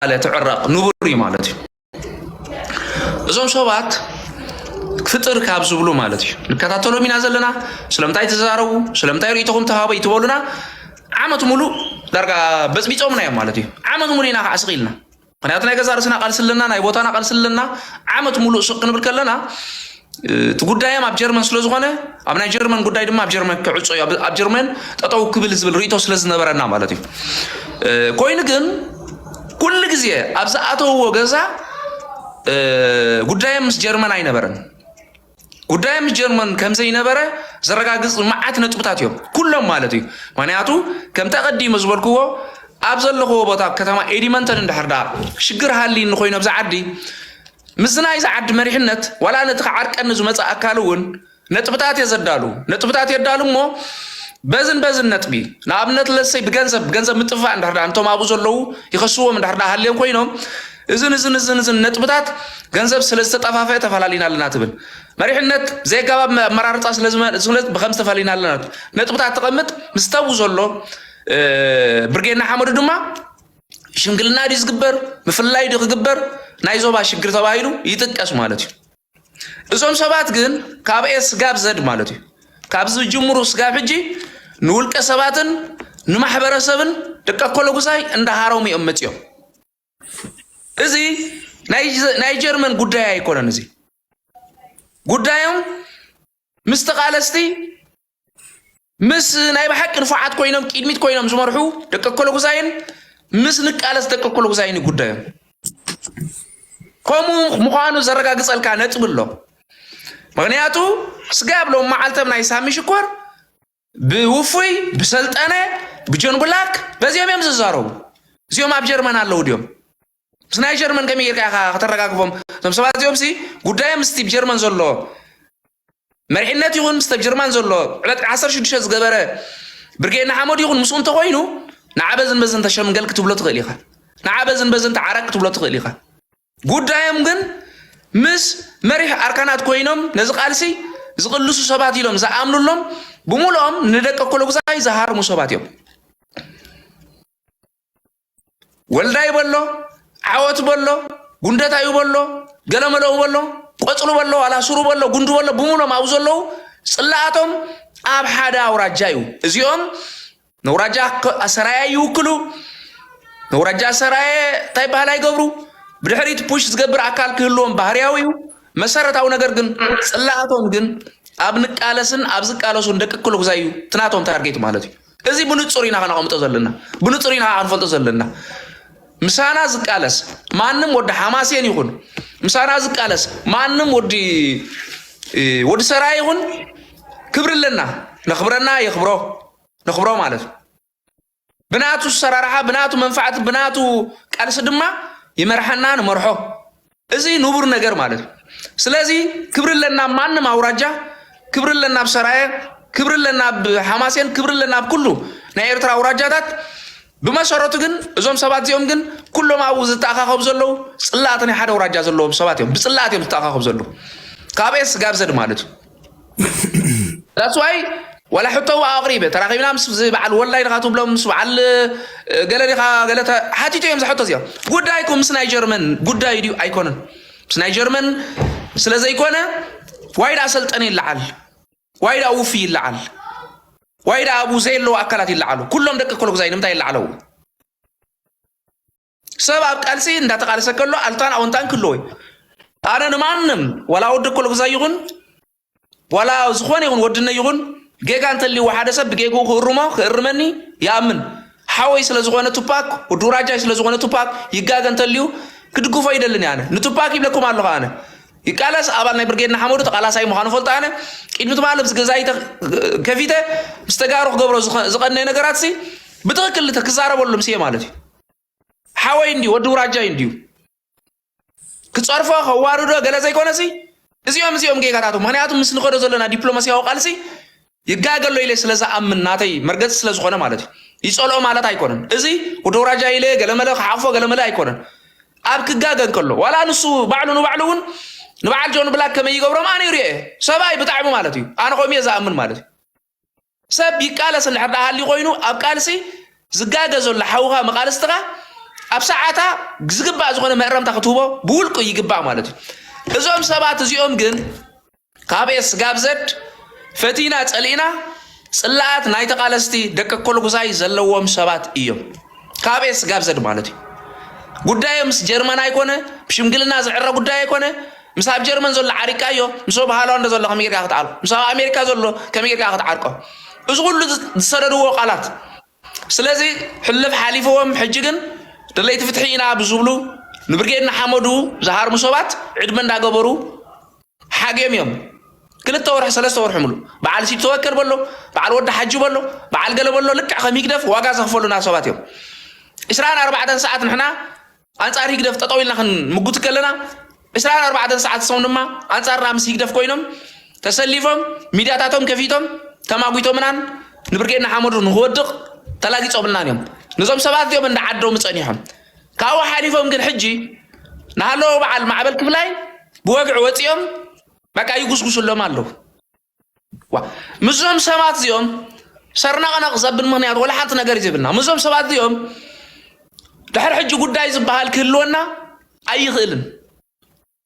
ተባህለ ትዕረቕ ንቡር እዩ ማለት እዩ እዞም ሰባት ፍጥር ካብ ዝብሉ ማለት እዩ ንከታተሎም ኢና ዘለና ስለምንታይ ተዛረቡ ስለምንታይ ርእቶኹም ተሃበ ይትበሉና ዓመት ሙሉ ዳርጋ በፅቢፆምና እዮም ማለት እዩ ዓመት ሙሉ ኢና ከዓ ስቕ ኢልና ምክንያቱ ናይ ገዛ ርእስና ቃልሲ ኣለና ናይ ቦታና ቃልሲ ኣለና ዓመት ሙሉእ ስቕ ክንብል ከለና እቲ ጉዳዮም ኣብ ጀርመን ስለ ዝኾነ ኣብ ናይ ጀርመን ጉዳይ ድማ ኣብ ጀርመን ክዕፆ እዩ ኣብ ጀርመን ጠጠው ክብል ዝብል ርእቶ ስለ ዝነበረና ማለት እዩ ኮይኑ ግን ኩሉ ግዜ ኣብ ዝኣተውዎ ገዛ ጉዳዮም ምስ ጀርመን ኣይነበረን ጉዳዮም ምስ ጀርመን ከምዘይነበረ ዘረጋግፅ መዓት ነጥብታት እዮም ኩሎም ማለት እዩ ምክንያቱ ከምቲ ኣቐዲመ ዝበልክዎ ኣብ ዘለኽዎ ቦታ ከተማ ኤዲመንተን እንድሕር ዳ ሽግር ሃልይኒ ኮይኑ ኣብዚ ዓዲ ምስዚ ናይዚ ዓዲ መሪሕነት ዋላ ነቲ ክዓርቀኒ ዝመጽእ ኣካል እውን ነጥብታት እየ ዘዳሉ ነጥብታት የዳሉ እሞ በዝን በዝን ነጥቢ ንኣብነት ለሰይ ብገንዘብ ብገንዘብ ምጥፋእ እንድሕር ድኣ እንቶም ኣብኡ ዘለዉ ይኸስዎም እንድሕር ድኣ ሃልዮም ኮይኖም እዝን እዝን እዝን እዝን ነጥብታት ገንዘብ ስለ ዝተጠፋፈአ ተፈላሊና ኣለና ትብል መሪሕነት ዘይጋባብ ኣመራርፃ ስለ ብከም ዝተፈላሊና ኣለና ነጥብታት ተቐምጥ ምስ ተብኡ ዘሎ ብርጌና ሓመዱ ድማ ሽምግልና ድዩ ዝግበር ምፍላይ ድዩ ክግበር ናይ ዞባ ሽግር ተባሂሉ ይጥቀስ ማለት እዩ እዞም ሰባት ግን ካብ ኤስ ጋብ ዘድ ማለት እዩ ካብ ዝጅምሩ ስጋብ ሕጂ ንውልቀ ሰባትን ንማሕበረሰብን ደቂ ኮሎጉዛይ እንዳሃሮም እዮም መፅኦም እዚ ናይ ጀርመን ጉዳይ ኣይኮነን እዚ ጉዳዮም ምስ ተቃለስቲ ምስ ናይ ብሓቂ ንፉዓት ኮይኖም ቅድሚት ኮይኖም ዝመርሑ ደቂ ኮሎጉዛይን ምስ ንቃለስ ደቂ ኮሎጉዛይን ጉዳዮም ከምኡ ምዃኑ ዘረጋግጸልካ ነጥቢ ኣሎ ምክንያቱ ስጋ ብሎም መዓልተም ናይ ሳሚ ሽኮር ብውፉይ ብሰልጠነ ብጆን ብላክ በዚኦም እዮም ዝዛረቡ እዚኦም ኣብ ጀርመን ኣለዉ ድዮም ምስ ናይ ጀርመን ከመይ ጌርካ ኢኻ ከተረጋግፎም እዞም ሰባት እዚኦም ሲ ጉዳዮም ምስቲ ብ ጀርመን ዘሎ መሪሕነት ይኹን ምስቲ ብ ጀርመን ዘሎ ዕለት 16 ዝገበረ ብርጌድ ንሓመዱ ይኹን ምስኡ እንተኾይኑ ንዓ በዝን በዝን ተሸምገል ክትብሎ ትኽእል ኢኻ ንዓ በዝን በዝን ተዓረቅ ክትብሎ ትኽእል ኢኻ ጉዳዮም ግን ምስ መሪሕ ኣርካናት ኮይኖም ነዚ ቃልሲ ዝቕልሱ ሰባት ኢሎም ዝኣምኑሎም ብምሉኦም ንደቂ ኮሎጉዛይ ዝሃርሙ ሰባት እዮም ወልዳይ በሎ ዓወት በሎ ጉንደታዩ በሎ ገለመለኡ በሎ ቆፅሉ በሎ ዋላ ሱሩ በሎ ጉንዱ በሎ ብምሎም ኣብኡ ዘለዉ ፅላኣቶም ኣብ ሓደ ኣውራጃ እዩ እዚኦም ነውራጃ ሰራያ ይውክሉ ነውራጃ ሰራየ እንታይ ባህል ኣይገብሩ ብድሕሪት ፑሽ ዝገብር ኣካል ክህልዎም ባህርያዊ እዩ መሰረታዊ ነገር ግን ፅላኣቶም ግን ኣብ ንቃለስን ኣብ ዝቃለሱን ደቂ ክልጉዛ እዩ ትናቶም ታርጌት ማለት እዩ እዚ ብንጹር ኢና ከነቐምጦ ዘለና፣ ብንጹር ኢና ክንፈልጦ ዘለና። ምሳና ዝቃለስ ማንም ወዲ ሓማሴን ይኹን ምሳና ዝቃለስ ማንም ወዲ ወዲ ሰራ ይኹን ክብሪ ኣለና ነኽብረና የኽብሮ ነኽብሮ ማለት እዩ ብናቱ ሰራርሓ ብናቱ መንፋዕቲ ብናቱ ቃልሲ ድማ ይመርሓና ንመርሖ እዚ ንቡር ነገር ማለት እዩ። ስለዚ ክብሪ ኣለና ኣብ ማንም ኣውራጃ፣ ክብሪ ኣለና ኣብ ሰራየ፣ ክብሪ ኣለና ኣብ ሓማሴን፣ ክብሪ ኣለና ኣብ ኩሉ ናይ ኤርትራ ኣውራጃታት። ብመሰረቱ ግን እዞም ሰባት እዚኦም ግን ኩሎም ኣብኡ ዝተኣኻኸቡ ዘለዉ ጽላእቲ ናይ ሓደ ኣውራጃ ዘለዎም ሰባት እዮም። ብጽላእት እዮም ዝተኣኻኸቡ ዘለዉ ካብ ኤስ ጋብ ዘድ ማለት እዩ። ዳስዋይ ዋላ ሕቶ እዋ ኣቕሪበ ተራኺብና ምስ እዚ በዓል ወላይ ድኻ ትብሎም ምስ በዓል ገለ ዲኻ ገለ ሓቲቶ እዮም ዝሕቶ እዚኦም ጉዳይኩም ምስ ናይ ጀርመን ጉዳይ ድዩ ኣይኮነን ምስ ናይ ጀርመን ስለ ዘይኮነ ዋይ ደኣ ሰልጠነ ይለዓል ዋይ ደኣ ውፊ ይለዓል ዋይ ደኣ ኣብኡ ዘየለዉ ኣካላት ይለዓሉ ኩሎም ደቂ ኮሎጉዛይ ንምንታይ ይለዓለዉ ሰብ ኣብ ቃልሲ እንዳተቃለሰ ከሎ ኣልታን ኣውንታን ክህልዎ እዩ ኣነ ንማንም ዋላ ወዲ ኮልጉዛ ይኹን ዋላ ዝኾነ ይኹን ወድነ ይኹን ጌጋ እንተልይዎ ሓደ ሰብ ብጌግኡ ክእርሞ ክእርመኒ ይኣምን ሓወይ ስለ ዝኾነ ቱፓክ ወዲ ውራጃይ ስለ ዝኾነ ቱፓክ ይጋገ እንተልዩ ክድግፎ ይደልን ኣነ ንቱፓክ ይብለኩም ኣለኹ ኣነ ይቃለስ ኣባል ናይ ብርጌድ ንሓመዱ ተቃላሳይ ምዃኑ ፈልጦ ኣነ ቅድሚ ትማሊ ምስ ገዛይ ከፊተ ምስ ተጋሩ ክገብሮ ዝቐነየ ነገራት ሲ ብትክክል ክዛረበሉም ስየ ማለት እዩ ሓወይ እንድዩ ወዲ ውራጃይ እንድዩ ክፀርፎ ከዋርዶ ገለ ዘይኮነሲ እዚኦም እዚኦም ጌጋታቶም ምክንያቱ ምስ ንኸዶ ዘለና ዲፕሎማሲያዊ ቃልሲ ይጋገሎ ኢለ ስለ ዝኣምን ናተይ መርገፂ ስለ ዝኾነ ማለት እዩ ይፀልኦ ማለት ኣይኮነን እዚ ወዲ ውራጃ ኢለ ገለመለ ክሓቕፎ ገለመለ ኣይኮነን ኣብ ክጋገ እንከሎ ዋላ ንሱ ባዕሉ ንባዕሉ እውን ንበዓል ጆን ብላክ ከመይ ይገብሮም ኣነ ይሪኦ እየ ሰብኣይ ብጣዕሚ ማለት እዩ ኣነ ከምኡ እየ ዝኣምን ማለት እዩ ሰብ ይቃለስ እንድሕር ደኣ ሃልዩ ኮይኑ ኣብ ቃልሲ ዝጋገ ዘሎ ሓውኻ መቃልስትኻ ኣብ ሰዓታ ዝግባእ ዝኾነ መእረምታ ክትህቦ ብውልቁ ይግባእ ማለት እዩ እዞም ሰባት እዚኦም ግን ካብ ኤስ ጋብ ዘድ ፈቲና ጸሊእና ጽላኣት ናይ ተቃለስቲ ደቂ ኮልጉዛይ ዘለዎም ሰባት እዮም ካብ ኤስ ጋብ ዘድ ማለት እዩ ጉዳዮም ምስ ጀርመን ኣይኮነ ብሽምግልና ዝዕረ ጉዳይ ኣይኮነ ምስ ኣብ ጀርመን ዘሎ ዓሪቃዮ ምስ ኣብ ሃላንድ ዘሎ ከመይ ጌርካ ክትዓርቆ ምስ ኣብ ኣሜሪካ ዘሎ ከመይ ጌርካ ክትዓርቆ እዚ ኩሉ ዝሰደድዎ ቃላት ስለዚ ሕልፍ ሓሊፍዎም ሕጂ ግን ደለይቲ ፍትሒ ኢና ብዝብሉ ንብርጌድ ንሓመዱ ዝሃርሙ ሰባት ዕድመ እንዳገበሩ ሓግዮም እዮም ክልተ ወርሒ ሰለስተ ወርሒ ምሉ በዓል ሲድ ተወከል በሎ በዓል ወዲ ሓጂ በሎ በዓል ገለ በሎ ልክዕ ከም ሂግደፍ ዋጋ ዘኽፈሉና ሰባት እዮም ዕስራን ኣርባዕተን ሰዓት ንሕና ኣንጻር ህግደፍ ጠጠው ኢልና ክንምጉት ከለና ዕስራን ኣርባዕተን ሰዓት ሰው ድማ ኣንጻርና ምስ ህግደፍ ኮይኖም ተሰሊፎም ሚድያታቶም ከፊቶም ተማጒቶምናን ንብርጌድ ንሓመዱ ንክወድቕ ተላጊጾምልናን እዮም ነዞም ሰባት እዚኦም እንዳ ዓዶም ጸኒሖም ካብኡ ሓሊፎም ግን ሕጂ ንሃለዎ በዓል ማዕበል ክፍላይ ብወግዒ ወፂኦም በቃ ይጉስጉስሎም ኣለዉ ምስዞም ሰባት እዚኦም ሰርነቕነቕ ዘብል ምክንያት ወላ ሓንቲ ነገር ይዘብልና ምስዞም ሰባት እዚኦም ድሕሪ ሕጂ ጉዳይ ዝበሃል ክህልወና ኣይኽእልን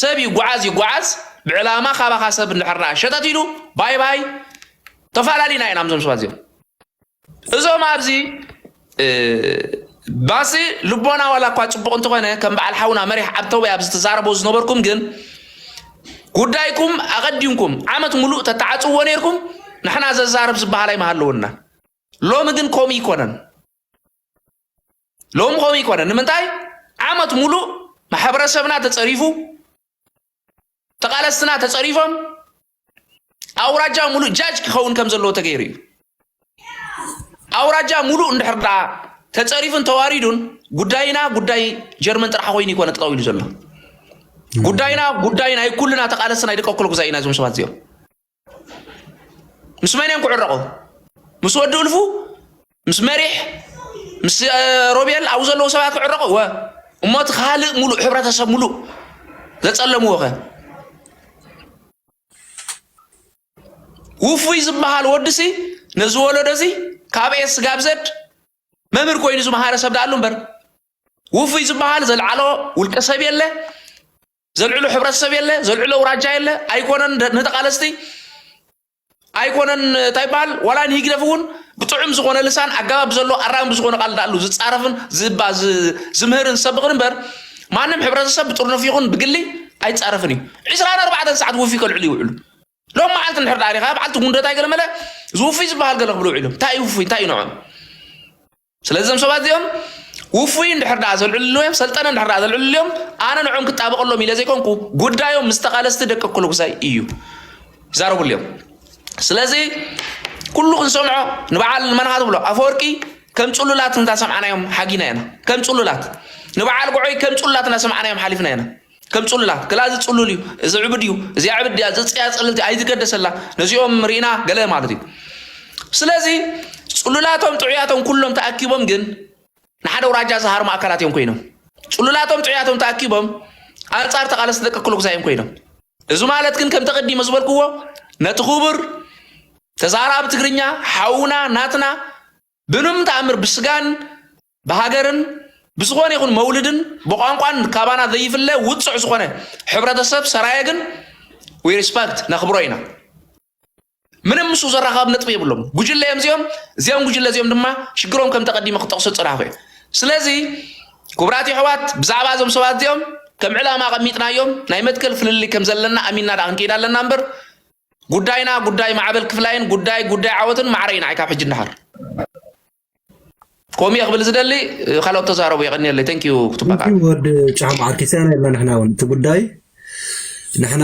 ሰብ ይጓዓዝ ይጓዓዝ ብዕላማ ካባኻ ሰብ እንድሕርና ሸተት ኢሉ ባይ ባይ ተፈላለዩና ኢና ምዞም ሰባት እዚኦም እዞም ኣብዚ ባሲ ልቦና ዋላ እኳ ፅቡቅ እንተኾነ ከም በዓል ሓውና መሪሕ ዓብተወይ ኣብዚ ትዛረቦ ዝነበርኩም ግን ጉዳይኩም ኣቐዲምኩም ዓመት ሙሉእ ተተዓፅዎ ነይርኩም ንሕና ዘዛርብ ዝበሃል ኣይመሃለወና ሎሚ ግን ከምኡ ይኮነን ሎሚ ከምኡ ይኮነን ንምንታይ ዓመት ሙሉእ ማሕበረሰብና ተፀሪፉ ተቓለስትና ተጸሪፎም ኣውራጃ ሙሉእ ጃጅ ክኸውን ከም ዘለዎ ተገይሩ እዩ ኣውራጃ ሙሉእ እንድሕር ደኣ ተጸሪፉን ተዋሪዱን ጉዳይና ጉዳይ ጀርመን ጥራሕ ኮይኑ ይኮነ ጠጠው ኢሉ ዘሎ ጉዳይና ጉዳይ ናይ ኩልና ተቓለስቲ ናይ ደቀ ኩለ ጉዛይ ኢና እዞም ሰባት እዚኦም ምስ መን እዮም ክዕረቑ? ምስ ወዲ እልፉ፣ ምስ መሪሕ፣ ምስ ሮቤል ኣብኡ ዘለዉ ሰባት ክዕረቑ ወ እሞ እቲ ካልእ ሙሉእ ሕብረተሰብ ሙሉእ ዘጸለምዎ ከ ውፉይ ዝበሃል ወድሲ ነዚ ወለዶ እዚ ካብ ኤስ ስጋብ ዘድ መምህር ኮይኑ ዝመሃረ ሰብ ዳኣሉ እምበር ውፉይ ዝበሃል ዘልዓሎ ውልቀ ሰብ የለ ዘልዕሎ ሕብረተሰብ የለ፣ ዘልዕሎ ውራጃ የለ። ኣይኮነን ንተቃለስቲ ኣይኮነን እንታይ ይበሃል ዋላ ንሂግደፍ እውን ብጥዑም ዝኾነ ልሳን ኣገባብ ዘሎ ኣራሚ ብዝኾነ ቃል ዳኣሉ ዝፃረፍን ዝባ ዝምህርን ዝሰብኽን እምበር ማንም ሕብረተሰብ ብጥርኑፍ ይኹን ብግሊ ኣይፃረፍን እዩ ዕስራን ኣርባዕተን ሰዓት ውፊ ከልዕሉ ይውዕሉ ሎም መዓልቲ ንድሕር ዳኣ ሪኻ በዓልቲ ጉንደታይ ገለ መለ ዝውፊ ዝበሃል ገለ ክብሉ ውዒሎም እንታይ እዩ ውፉይ እንታይ እዩ ንዖም ስለዚ እዞም ሰባት እዚኦም ውፉይ እንድሕር ደኣ ዘልዕልሉ እዮም ሰልጠነ እንድሕር ደኣ ዘልዕልሉ እዮም ኣነ ንዕኦም ክጣበቐሎም ኢለ ዘይኮንኩ ጉዳዮም ምስ ተቓለስቲ ደቂ ኩልጉሳይ እዩ ይዛረብሉ እዮም ስለዚ ኩሉ ክንሰምዖ ንበዓል መንሃ ትብሎ ኣፈወርቂ ከም ፅሉላት እንዳ ሰምዓናዮም ሓጊና ኢና ከም ፅሉላት ንበዓል ጉዖይ ከም ፅሉላት እንዳ ሰምዓናዮም ሓሊፍና ኢና ከም ጽሉላት ክላ እዚ ጽሉል እዩ እዚ ዕብድ እዩ እዚኣ ዕብድ እያ ዝፅያ ፅልልቲ ኣይትገደሰላ ነዚኦም ርኢና ገለ ማለት እዩ ስለዚ ጽሉላቶም ጥዑያቶም ኩሎም ተኣኪቦም ግን ንሓደ ውራጃ ዝሃርሙ ኣካላት እዮም ኮይኖም ጽሉላቶም ጥዑያቶም ተኣኪቦም ኣንጻር ተቓለስቲ ደቂ ክልጉዛ እዮም ኮይኖም እዚ ማለት ግን ከም ተቐዲመ ዝበልክዎ ነቲ ክቡር ተዛራቢ ትግርኛ ሓውና ናትና ብንም ተኣምር ብስጋን ብሃገርን ብዝኾነ ይኹን መውልድን ብቋንቋን ካባና ዘይፍለ ውፅዕ ዝኾነ ሕብረተሰብ ሰራየ ግን ዊ ሪስፐክት ነኽብሮ ኢና። ምንም ምስ ዘራኻብ ነጥቢ የብሎም ጉጅለ እዮም እዚኦም እዚኦም ጉጅለ እዚኦም ድማ ሽግሮም ከም ተቀዲመ ክጠቕሶ ጽናኹ እዩ ስለዚ ክቡራት የሕዋት ብዛዕባ እዞም ሰባት እዚኦም ከም ዕላማ ኣቐሚጥናዮም ናይ መትከል ፍልልይ ከም ዘለና ኣሚንና ዳ ክንከይድ ኣለና እምበር ጉዳይና ጉዳይ ማዕበል ክፍላይን ጉዳይ ጉዳይ ዓወትን ማዕረ ኢና ካብ ሕጂ ንደሓር ከምኡ እየ ክብል ዝደሊ ካልኦት ተዛረቡ የቀኒየለይ ተንክ ዩ ክትባቃ ወዲ ጫማ ኣርኪስያና የብላ ንሕና እውን እቲ ጉዳይ ንሕና